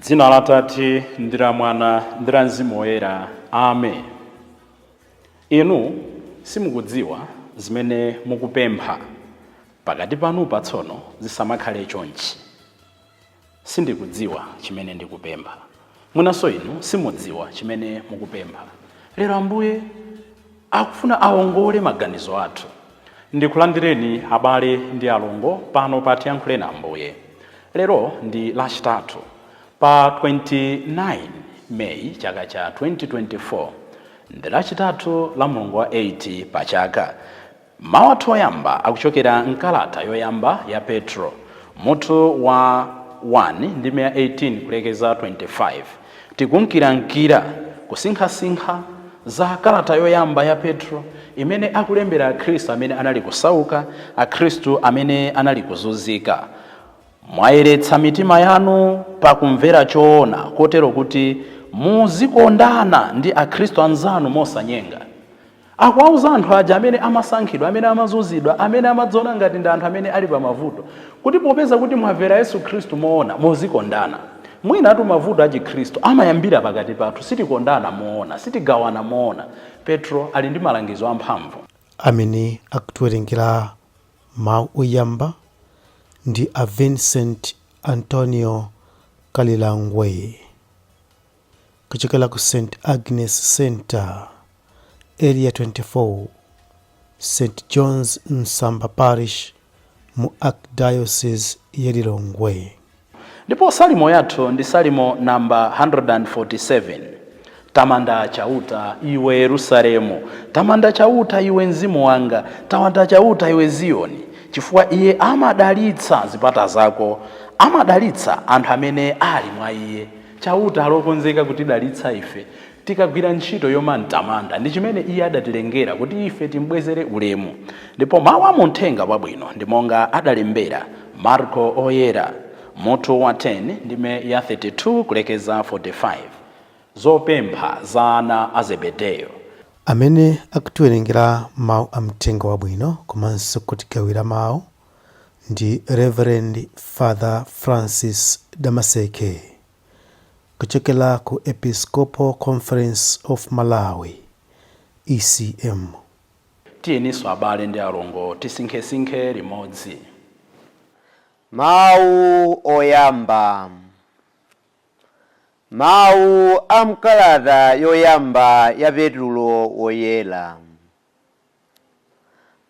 dzina la tate ndi la mwana ndi la mzimu woyera amen inu simukudziwa zimene mukupempha pakati panu patsono zisamakhale chonchi Sindikudziwa chimene ndikupempha. Mwinanso inu simudziwa chimene mukupempha. Lero Ambuye akufuna awongole maganizo athu. Ndikulandireni abale ndi alongo pano pa Tiyankhuleni Ambuye. Lero ndi Lachitatu pa 29 May chaka cha 2024. Ndi Lachitatu la mulungu wa 8 pa chaka. Mawu athu oyamba akuchokera m'kalata yoyamba ya Petro, mutu wa 1, ndime ya 18 kulekeza 25. Tikunkirankira kusinkhasinkha za kalata yoyamba ya Petro imene akulembera Akhristu amene anali kusauka, Akhristu amene anali kuzunzika. Mwayeretsa mitima yanu pakumvera choona, kotero kuti muzikondana ndi Akhristu anzanu mosanyenga. Akuwauza anthu aja amene amasankhidwa, amene amazunzidwa, amene amadziona ngati ndi anthu amene ali pamavuto, kuti popeza kuti mwamvera Yesu Khristu moona, muzikondana. Mwinatu mavuto achikhristu amayambira pakati pathu. Sitikondana moona. Sitigawana moona. Petro ali ndi malangizo amphamvu. Amene akutiwerengera mawu oyamba ndi a Vincent Antonio Kalilangwe. kuchokera ku St Agnes Center, Area 24, St John's Msamba Parish mu Archdiocese ya Lilongwe. Ndipo salimo yathu ndi salimo namba 147. Tamanda Chauta iwe Yerusalemu, tamanda Chauta iwe mzimu wanga, tamanda Chauta iwe Ziyoni, chifukwa iye amadalitsa zipata zako, amadalitsa anthu amene ali mwa iye. Chauta ali okonzeka kutidalitsa ife tikagwira ntchito yomamtamanda. Ndi chimene Iye adatilengera, kuti ife timbwezere ulemu. Ndipo mawu a mu Mthenga Wabwino ndi monga adalembera Marko Oyera, mutu wa 10, ndime ya 32 kulekeza 45. Zopempha za ana a Zebedeyo. Amene akutiwerengera Mawu a Mthenga Wabwino komanso kutigawira Mawu ndi Reverend Father Francis Damaseke kuchokera ku Episcopal Conference of Malawi, ECM. Tiyeninso abale ndi alongo tisinkhesinkhe limodzi. Mawu Oyamba Mawu a m'kalata yoyamba ya Petulo Woyera.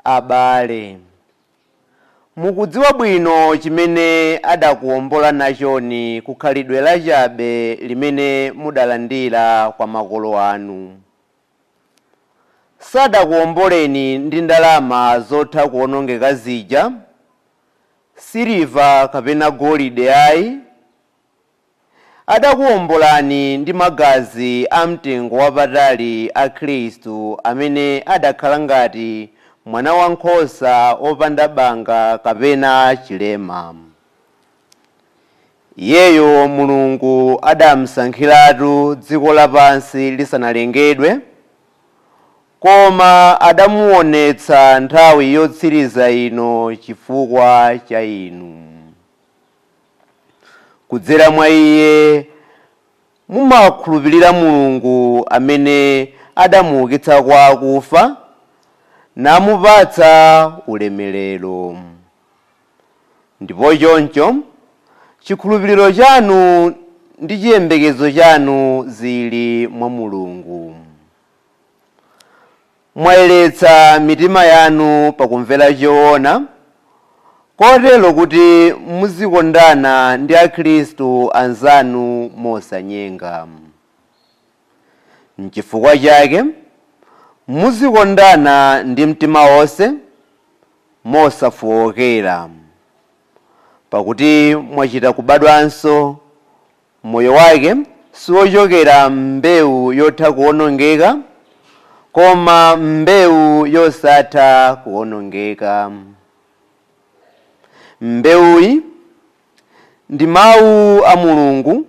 Abale, mukudziwa bwino chimene adakuwombola nachoni ku khalidwe lachabe limene mudalandira kwa makolo anu. Sadakuwomboleni ndi ndalama zotha kuwonongeka zija, siliva kapena golide ai, Adakuwombolani ndi magazi amtengo wapatali a Khristu amene adakhala ngati mwanawankhosa wopanda banga kapena chilema. Iyeyo Mulungu adamusankhiratu dziko lapansi lisanalengedwe, koma adamuwonetsa nthawi yotsiriza ino chifukwa cha inu. Kudzera mwa iye mumakhulupirira Mulungu amene adamuukitsa kwa akufa, namupatsa ulemerero. Ndipo choncho chikhulupiriro chanu ndi chiyembekezo chanu zili mwa Mulungu. Mwayeretsa mitima yanu pakumvera choona, kotero kuti muzikondana ndi akhristu anzanu mosanyenga. N'chifukwa chake, muzikondana ndi mtima wonse mosafookera, pakuti mwachita kubadwanso Moyo wake siwochokera m'mbewu yotha kuwonongeka, koma m'mbewu yosatha kuwonongeka. Mbewuyi ndi Mawu a Mulungu,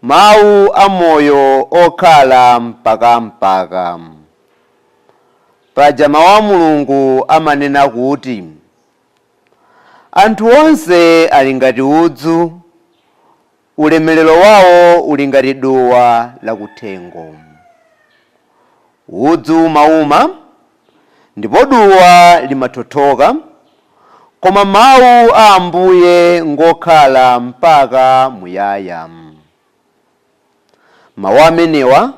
Mawu amoyo okhala mpaka mpaka. Paja Mawu a Mulungu amanena kuti, Anthu onse ali ngati udzu, ulemerero wawo uli ngati duwa lakuthengo. Udzu umauma ndipo duwa limathothoka, koma mawu a Ambuye ngokhala mpaka muyaya. Mawu amenewa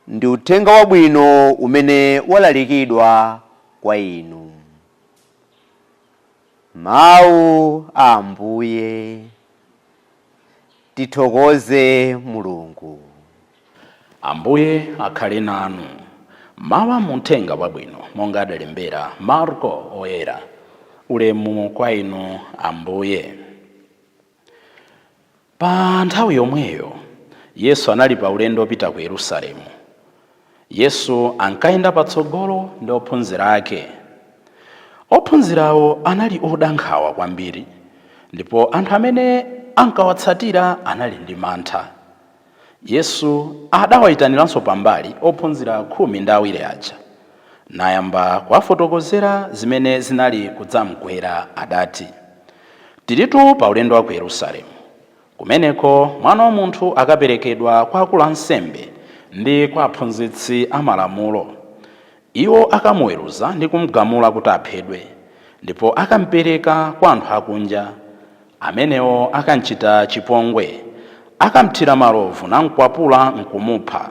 ndi uthenga wabwino umene walalikidwa kwa inu. Mawu a Ambuye. Tithokoze Mulungu. Ambuye akhale nanu. Mawu a mu Uthenga Wabwino monga adalembera Marko Woyera. Ulemu kwa Inu Ambuye. Pa nthawi yomweyo, Yesu anali pa ulendo wopita ku Yerusalemu. Yesu ankayenda patsogolo ndi ophunzira ake. Ophunzirawo anali oda nkhawa kwambiri ndipo anthu amene ankawatsatira anali ndi mantha. Yesu adawaitaniranso pambali ophunzira khumi ndi awiri aja, nayamba kuwafotokozera zimene zinali kudzamgwera. Adati, Tilitu pa ulendo wa ku Yerusalemu. Kumeneko Mwana wa Munthu akaperekedwa kwa akulu a nsembe ndi kwa aphunzitsi a Malamulo. Iwo akamuweruza ndi kum'gamula kuti aphedwe, ndipo akam'pereka kwa anthu akunja. Amenewo akam'chita chipongwe. Akam'thira malovu nam'kwapula n'kumupha.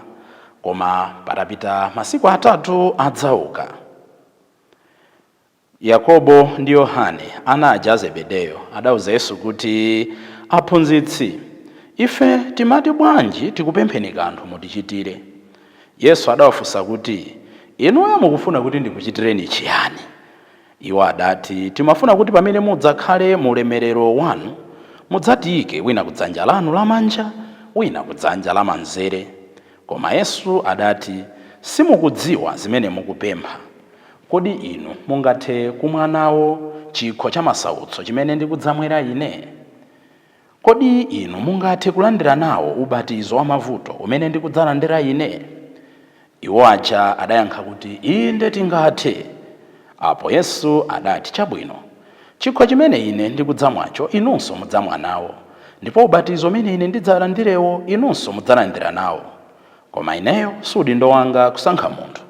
Koma patapita masiku atatu adzauka. Yakobo ndi Yohane, ana aja a Zebedeyo, adauza Yesu kuti, Aphunzitsi, ife timati bwanji tikupempheni kanthu mutichitire? Yesu adawafunsa kuti, Inuyo mukufuna kuti ndikuchitireni chiyani? Iwo adati, Timafuna kuti pamene mudzakhale mu ulemerero wanu, mudzatiike wina ku dzanja lanu lamanja, wina ku dzanja lamanzere. Koma Yesu adati, Simukudziwa zimene mukupempha. Kodi inu mungathe kumwa nawo chikho cha masautso chimene ndikudzamwera Ine? Kodi inu mungathe kulandira nawo ubatizo wa mavuto umene ndikudzalandira Ine? Iwo aja adayankha kuti, Inde tingathe. Apo Yesu adati, Chabwino, Chikho chimene Ine ndikudzamwacho inunso mudzamwa nawo, ndipo ubatizo umene Ine ndidzalandirewo inunso mudzalandira nawo. Koma Ineyo si udindo wanga kusankha munthu,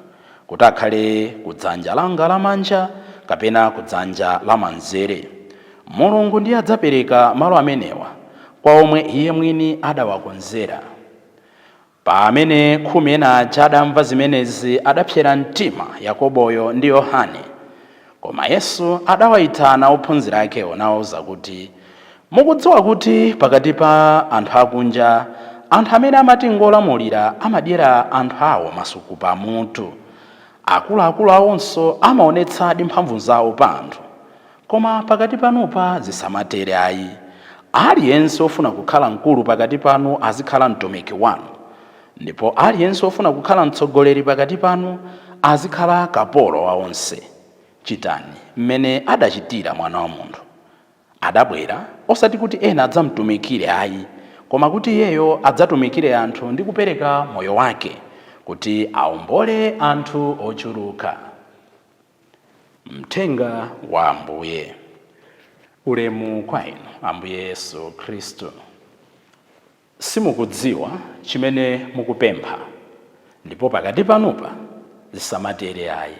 kuti akhale ku dzanja langa lamanja kapena ku dzanja lamanzere. Mulungu ndiye adzapereka malo amenewa kwa omwe Iye mwini adawakonzera. Pamene khumi ena aja adamva zimenezi, adapsera mtima Yakoboyo ndi Yohane. Koma Yesu adawaitana ophunzira akewo nawauza kuti, Mukudziwa kuti pakati pa anthu akunja, anthu amene amati ngolamulira amadyera anthu ao masuku pamutu. Akuluakulu aonso amaonetsadi mphamvu zao pa anthu. Koma pakati panupa zisamatere ayi. Aliyense wofuna kukhala mkulu pakati panu azikhala mtumiki wanu, ndipo aliyense wofuna kukhala mtsogoleri pakati panu azikhala kapolo wa onse. Chitani mmene adachitira Mwana wa Munthu. Adabwera, osati kuti ena adzamtumikire ayi, koma kuti Iyeyo adzatumikire anthu ndi kupereka moyo wake kuti aombole anthu ochuluka. Mthenga wa Ambuye. Ulemu kwa Inu, Ambuye Yesu Kristu. Simukudziwa chimene mukupempha, ndipo pakati panupa zisamatere ayi.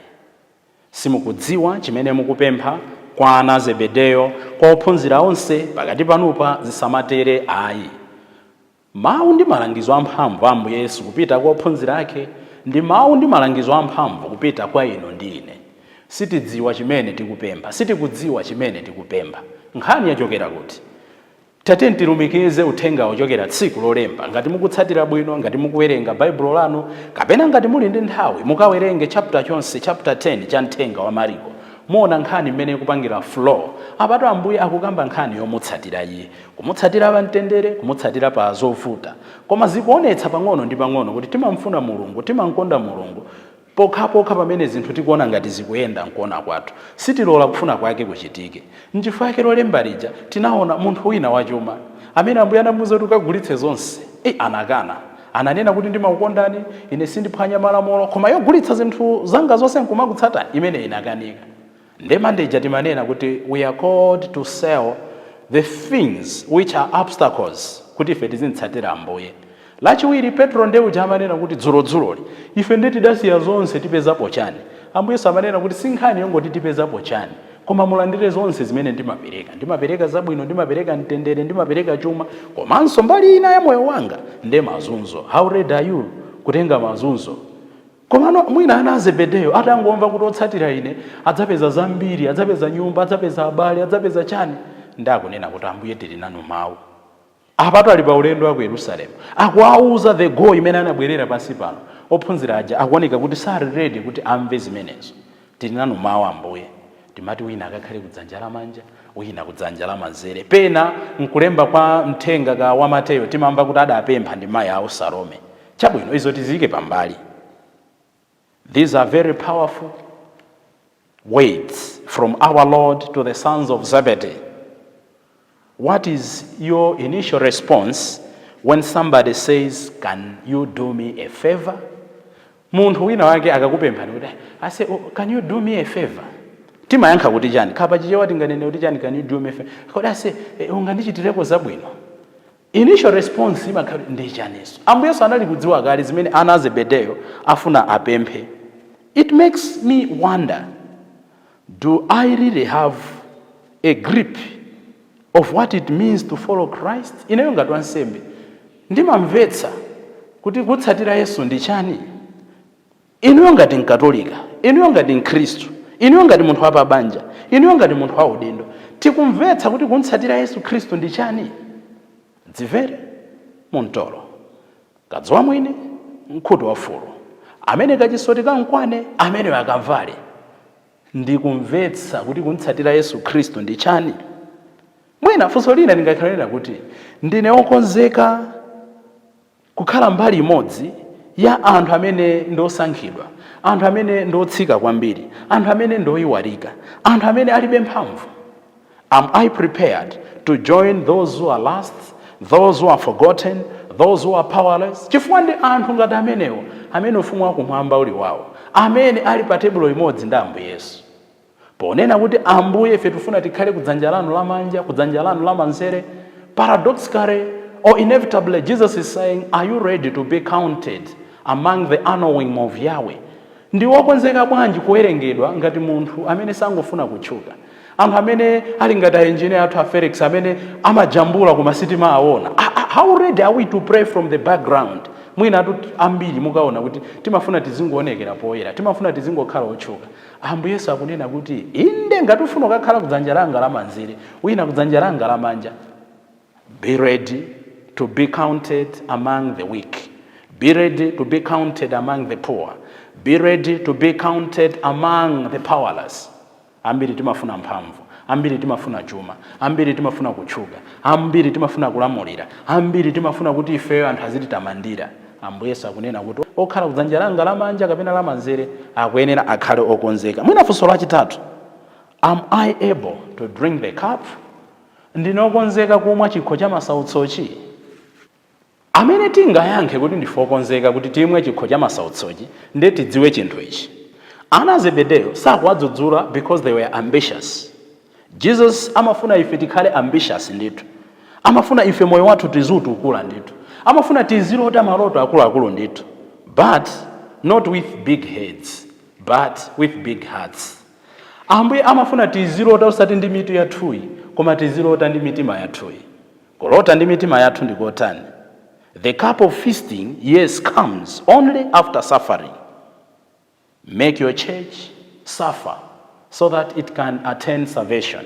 Simukudziwa chimene mukupempha, kwa ana a Zebedeyo, kwa ophunzira onse, pakati panupa zisamatere ayi. Mawu ndi malangizo amphamvu a Ambuye Yesu kupita kwa ophunzira ake ndi mawu ndi malangizo amphamvu kupita kwa inu ndi ine. Sitidziwa chimene tikupempha. Sitikudziwa chimene tikupempha. Nkhani yachokera kuti? Tatiyeni tilumikize uthengawo kuchokera tsiku lolemba. Ngati mukutsatira bwino, ngati mukuwerenga Baibulo lanu, kapena ngati muli ndi nthawi, mukawerenge chapter chonse, chapter 10 cha mthenga wa Mariko. Muona nkhani mmene ikupangira flow. Apatu Ambuye akukamba nkhani yomutsatira iye. Kumutsatira pa mtendere, kumutsatira pa zovuta. Koma zikuonetsa pang'ono ndi pang'ono kuti timamfuna Mulungu, timamkonda Mulungu, pokhapokha pamene zinthu tikuona ngati zikuyenda mkuona kwathu. Sitilola kufuna kwake kuchitike. Nchifukwa chake lolemba lija tinaona munthu wina wachuma, amene Ambuye anamuuza kuti kagulitse zonse, ei, anakana. Ananena kuti ndimakukondani, ine sindiphwanya malamulo, koma yogulitsa zinthu zanga zonse nkumakutsatani, imeneyi inakanika. Nde Mande ija timanena kuti we are called to sell the things which are obstacles kuti ife tizimtsatira Ambuye. Lachiwiri, Petro nde uja amanena kuti dzulodzuloli, ife nde tidasiya zonse tipezapo chani? Ambuye Yesu amanena kuti si nkhani yongoti tipezapo chani, koma mulandire zonse zimene ndimapereka. Ndimapereka zabwino, ndimapereka mtendere, ndimapereka chuma, komanso mbali ina ya moyo wanga nde mazunzo. How ready are you kutenga mazunzo? Komano mwina ana a Zebedeyo atangomva kuti otsatira ine adzapeza zambiri, adzapeza nyumba, adzapeza abale, adzapeza chani, nde akunena kuti Ambuye tili nanu mawu. Apatu ali pa ulendo wa ku Yerusalemu, akuwauza the goal imene anabwerera pansi pano, ophunzira aja akuoneka kuti sali ready kuti amve zimenezo. Tili nanu mawu Ambuye. Timati wina akakhale kudzanja lamanja, wina kudzanja lamanzere. Pena m'kulemba kwa mthenga ka wa Mateyo timamva kuti adapempha ndi mayi awo Salome. Chabwino, izo tiziike pambali. These are very powerful words from our Lord to the sons of Zebedee. What is your initial response when somebody says can you do me a favour? Munthu wina wake akakupemphani kuti ase oh, can you do me a favour? Timayankha kuti chani? Kaya pa Chichewa tinganene kuti chani can you do me a favour? Kodi ase eh, ungandichitireko zabwino? Initial response imakhala ndi chaniso. Ambuye Yesu anali kudziwa kale zimene ana a Zebedeyo afuna apemphe. It makes me wonder Do I really have a grip of what it means to follow Christ? Ineyo ngati wansembe ndimamvetsa kuti kutsatira Yesu ndi chani? Ineyo ngati Mkatolika, ineyo ngati Mkhristu, ineyo ngati munthu wa pabanja, ineyo ngati munthu wa udindo, tikumvetsa kuti kumtsatira Yesu Khristu ndi chani? Dzimvere mu mtolo. Kadziwa mwini, mkhuto wa fulu. Amene kachisoti kamkwane, ameneyo akavale. Ndikumvetsa kuti kumtsatira Yesu Khristu ndi chani? Mwina funso lina lingakhale lonena kuti, Ndine wokonzeka kukhala mbali imodzi ya anthu amene ndi osankhidwa, anthu amene ndi otsika kwambiri, anthu amene ndi oyiwarika, anthu amene alibe mphamvu? Am I prepared to join those who are last, those who are forgotten, those who are powerless? Chifukwa ndi anthu ngati amenewo amene ufumu wakumwamba uli wawo, amene ali pa tebulo imodzi ndi Ambuye Yesu. Ponena kuti, Ambuye, ife tifuna tikhale kudzanja lanu lamanja, kudzanja lanu lamanzere, paradoxically or inevitably, Jesus is saying, Are you ready to be counted among the anawim of Yahweh? Ndi wokonzeka bwanji kuwerengedwa ngati munthu amene sangofuna kutchuka. Anthu amene ali ngati a engineer athu a Felix amene amajambula koma sitimawaona. How ready are we to play from the background? Mwinatu ambiri mukaona kuti timafuna tizingowonekera poyera. Timafuna tizingokhala otchuka. Ambuye Yesu akunena kuti, Inde, ngati ufuna ukakhale kudzanja langa lamanzere, wina kudzanja langa lamanja. Be ready to be counted among the weak. Be ready to be counted among the poor. Be ready to be counted among the powerless. Ambiri timafuna mphamvu, ambiri timafuna chuma, ambiri timafuna kutchuka, ambiri timafuna kulamulira, ambiri timafuna kuti ifeyo anthu azititamandira. Ambuye Yesu akunena kuti okhala kudzanja langa lamanja kapena lamanzere akuyenera akhale okonzeka. Mwina funso lachitatu, am I able to drink the cup? Ndine okonzeka kumwa chikho cha masautsochi? Amene tingayankhe kuti ndife okonzeka kuti timwe chikho cha masautsochi nde tidziwe chinthu ichi, ana a Zebedeyo sakuwadzudzula because they were ambitious. Jesus amafuna ife tikhale ambitious ndithu. Amafuna ife moyo wathu tiziutukula ndithu. Amafuna tizilota maloto akuluakulu ndithu but not with big heads but with big hearts. Ambuye amafuna tizilota osati ndi mitu yathuyi, koma tizilota ndi mitima yathuyi. Kulota ndi mitima yathu ndi kotani? The cup of feasting, yes, comes only after suffering. Make your church suffer so that it can attain salvation.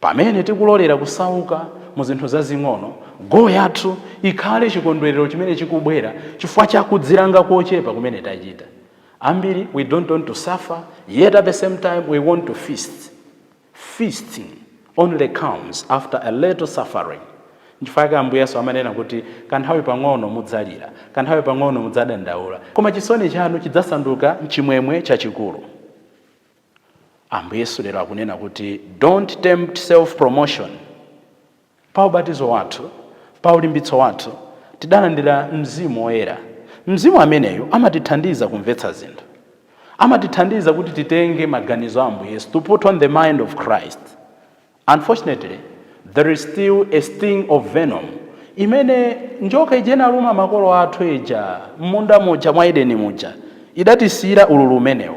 Pamene tikulolera kusauka mu zinthu zazing'ono, goal yathu ikhale chikondwerero chimene chikubwera chifukwa cha kudzilanga kochepa kumene tachita. Ambiri we don't want to suffer yet at the same time we want to feast. Feasting only comes after a little suffering. Nchifukwa chake Ambuye Yesu amanena kuti kanthawi pang'ono mudzalira, kanthawi pang'ono mudzadandaula, koma chisoni chanu chidzasanduka chimwemwe chachikulu. Ambuye Yesu lero akunena kuti don't tempt self promotion. Pa ubatizo wathu, pa ulimbitso wathu, tidalandira Mzimu Woyera. Mzimu ameneyo amatithandiza kumvetsa zinthu. Amatithandiza kuti titenge maganizo a Ambuye Yesu, to put on the mind of Christ. Unfortunately, there is still a sting of venom imene njoka ija inaluma makolo athu ija mmunda muja mwa Edeni muja idatisiira ululu umenewo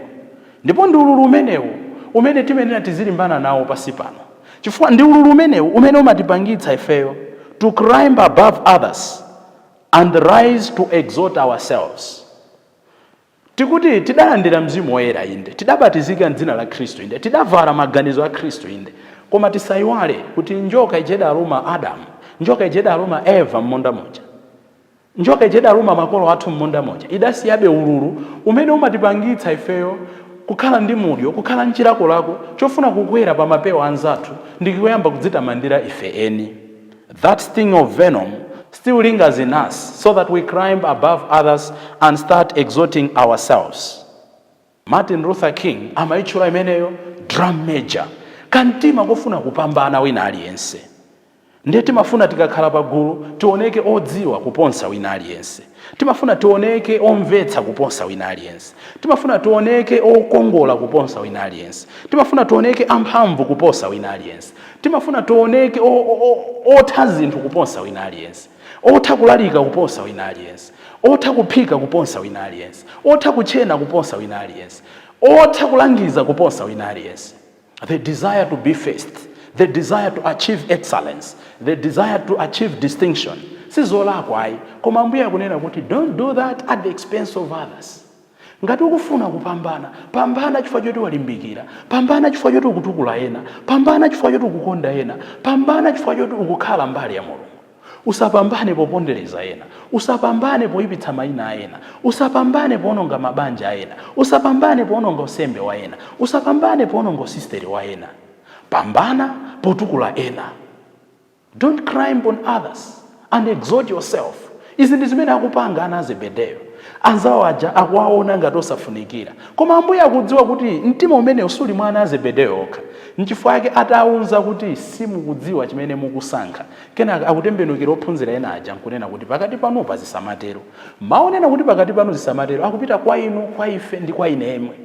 ndipo ndi ululu umenewu umene timenera tizilimbana nawo pansi pano chifukwa ndi ululu umenewu umene umatipangitsa ifeyo to climb above others and rise to exalt ourselves. Tikuti tidalandira Mzimu Woyera, inde, tidabatizika m'dzina la Khristu, inde, tidavala maganizo a Khristu, inde, koma tisaiwale kuti njoka ija idaluma Adamu, njoka ija idaluma Eva m'munda muja, njoka ija idaluma makolo athu m'munda muja, idasiyabe ululu umene umatipangitsa ifeyo kukhala ndi mudyo, kukhala n'chilakolako chofuna kukwera pa mapewa a anzathu ndi kuyamba kudzitamandira ife eni. That sting of venom still lingers in us so that we climb above others and start exalting ourselves. Martin Luther King amaitchula imeneyo drum major, kamtima kofuna kupambana wina aliyense. Ndiye timafuna tikakhala pagulu tioneke odziwa kuposa wina aliyense. Timafuna tioneke omvetsa kuposa wina aliyense. Timafuna tioneke okongola kuposa wina aliyense. Timafuna tioneke amphamvu kuposa wina aliyense. Timafuna tioneke otha zinthu kuposa wina aliyense. Otha kulalika kuposa wina aliyense. Otha kuphika kuposa wina aliyense. Otha kutchena kuposa wina aliyense. Otha kulangiza kuposa wina aliyense. the desire to be first the desire to achieve excellence the desire to achieve distinction sizolakwa ayi koma ambuye akunena kuti don't do that at the expense of others ngati ukufuna kupambana pambana chifukwa choti walimbikira pambana chifukwa choti ukutukula ena pambana chifukwa choti ukukonda ena pambana chifukwa choti ukukhala mbali ya mulungu Usapambane popondereza ena. Usapambane poipitsa maina a ena. Usapambane poononga mabanja a ena. Usapambane poononga unsembe wa ena. Usapambane poononga usisteri wa ena. Pambana potukula ena. Don't climb on others and exalt yourself. Izi ndi zimene akupanga ana a Zebedeyo. Anzawo aja akuwaona ngati osafunikira. Koma Ambuye akudziwa kuti mtima umenewu usali mwa ana a Zebedeyo okha. N'chifukwa chake atawauza kuti, Simukudziwa chimene mukusankha. Kenaka akutembenukira ophunzira ena aja n'kunena kuti, Pakati panupa zisamatero. Mawu onena kuti pakati panu zisamatero akupita kwa inu, kwa ife, ndi kwa ine yemwe.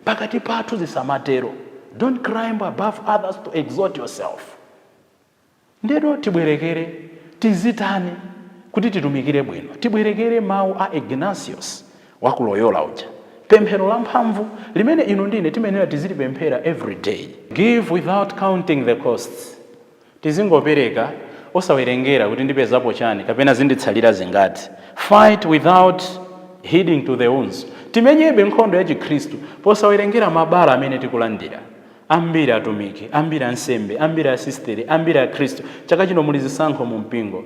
Pakati pathu zisamatero. Don't climb above others to exalt yourself. Ndiyeno tibwerekere, tizitani kuti titumikire bwino? Tibwerekere mawu a Ignatius wa ku Loyola uja, pemphero lamphamvu limene inu ndi ine timayenera tizilipemphera every day. Give without counting the costs. Tizingopereka osawerengera kuti ndipezapo chani kapena zinditsalira zingati. Fight without heeding to the wounds. Timenyebe nkhondo ya chikhristu posawerengera mabala amene tikulandira. Ambiri atumiki, ambiri ansembe, ambiri asisiteri, ambiri akhristu. Chaka chino muli zisankho mu mpingo.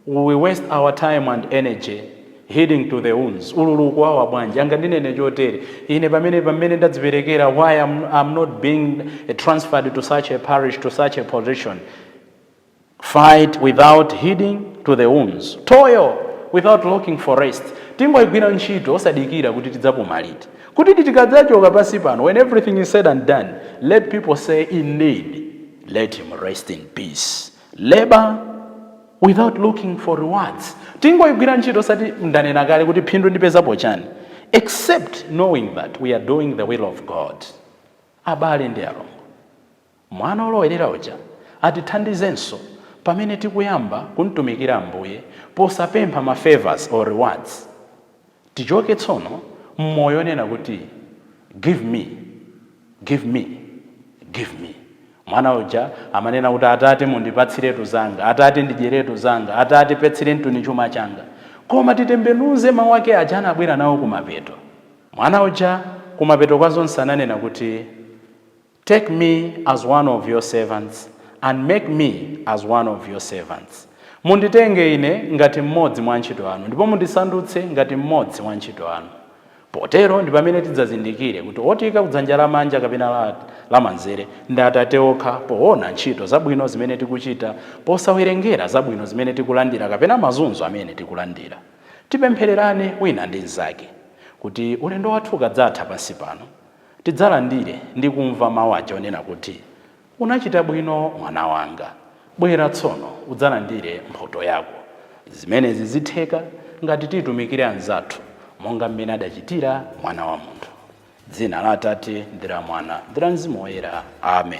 We waste our time and energy heeding to the wounds? Ululu kuwawa bwanji? Angandinene chotere. Ine pamene pamene ndadziperekera why I'm, I'm not being transferred to such a parish to such a position. Fight without heeding to the wounds. Toil without looking for rest. Tingoigwira ntchito osadikira kuti tidzapuma liti. Kuti tikadzachoka pansi pano when everything is said and done, let people say indeed let him rest in peace. Labour without looking for rewards tingoigwira ntchito osati ndanena kale kuti phindu ndipezapo chani except knowing that we are doing the will of god abale ndi alongo mwana wolowerera uja atithandizenso pamene tikuyamba kumtumikira ambuye posapempha ma favours or rewards Tichoke tsono m'moyo onena kuti give me, give me, give me. Mwana uja amanena kuti atate mundipatsiretu zanga, atate ndidyeretu zanga, atate patsirenituni chuma changa. Koma titembenuze mau ake aja anabwera nawo kumapeto. Mwana uja kumapeto kwa zonse ananena kuti. Take me as one of your servants, and make me as one of your servants. Munditenge ine ngati mmodzi mwa antchito anu, ndipo mundisandutse ngati mmodzi mwa antchito anu. Potero ndi pamene tidzazindikire kuti wotiika kudzanja lamanja kapena lamanzere ndi Atate okha poona ntchito zabwino zimene tikuchita posawerengera zabwino zimene tikulandira kapena mazunzo amene tikulandira. Tipemphererane wina ndi mnzake kuti ulendo wathu ukadzatha pansi pano, tidzalandire ndi kumva mawu aja onena kuti, Unachita bwino mwana wanga. Bwera tsono udzalandire mphoto yako. Zimenezi zitheka ngati titumikira anzathu monga mmene adachitira Mwana wa Munthu. Dzina la Atate ndi la Mwana ndi la Mzimu Woyera. Amen.